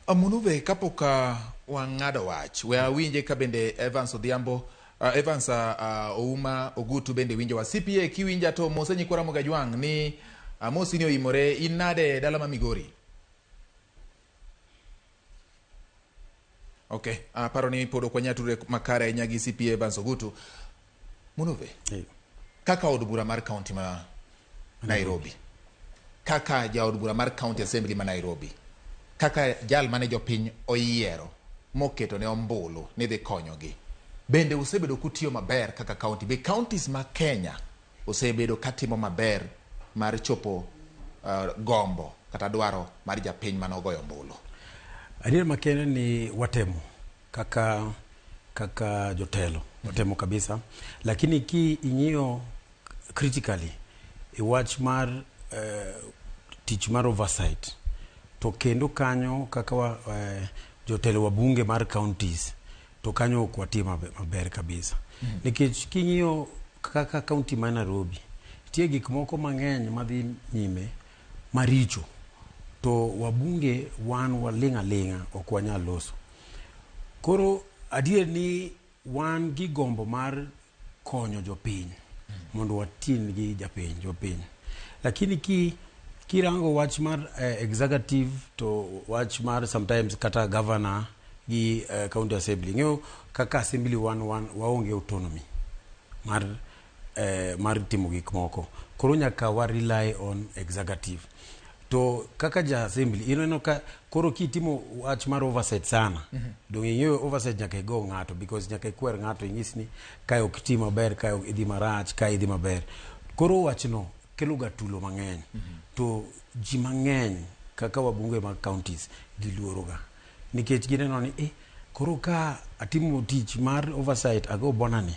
Amonu be kapok wang'ado wach, we awinje ka bende Evans Odhiambo, uh, Evans uh, Ouma Ogutu bende winjowa. CPA kiwinja to mose nyikwa Ramogi Ajwang' ni amosi ni oimore in nade dala ma Migori? Okay, aparo ni pod ok wanyal tudre makare ahinya gi CPA Evans Ogutu. Munuve. Hey. Kaka od bura mar county ma Nairobi. Kaka jaod bura mar county assembly ma Nairobi. Kaka jal mane jopiny oyiero moketo ne ombulu ni dhi konyogi. Bende usebedo kutiyo maber kaka county. Be counties ma Kenya osebedo katimo maber mar chopo uh, gombo kata dwaro mar japiny mane ogoyo ombulu. Adier makende ni watemo. kaka kaka jotelo watemo kabisa lakini ki ing'iyo critically e wach mar eh, tich mar oversight to kendo kanyo kaka wa, eh, jotelo wa bunge mar counties to kanyo ok watie mabe- maber kabisa nikech king'iyo kaka county ma Nairobi tie gik moko mang'eny madhi nyime maricho to wabunge wan waling' aling'a ok wanyal loso. Koro adier ni wan gi gombo mar konyo jopiny mondo watin gi japiny jopiny. Lakini ki kirango wach mar eh, executive to wach mar sometimes kata governor gi eh, county assembly ng'eyo kaka assembly wan, wan waonge autonomy mar eh, mar timo gik moko koro nyaka wa rely on executive to kaka ja assembly ineno ka koro kitimo wach mar oversight sana mm -hmm. donge ing'eyo oversight nyaka igo ng'ato because nyaka ikwer ng'ato inyis ni kae ok ti maber kae ok idhi marach kae idhi maber koro wachno keloga tulo mang'eny mm -hmm. to ji mang'eny kaka wabunge mag counties giluoroga nikech gineno ni eh, koro ka atimo tich mar oversight ago bonani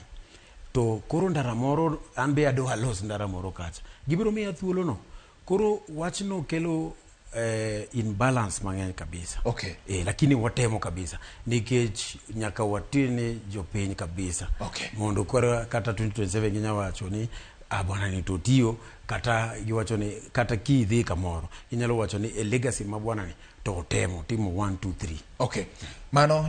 To koro ndara moro an be adwa alos ndara moro kacha. Gibiro miya thuolo no. Koro wachno kelo eh, imbalance mang'eny kabisa. Okay. Eh, lakini watemo kabisa nikech nyaka watine jopiny kabisa. Okay. Mondo koro kata 2027 ginya wacho ni ah bwana ni to tiyo kata giwacho ni kata kidhi kamoro inyalo wacho ni a legacy ma bwana ni to otemo timo 1 2 3. Okay. Mano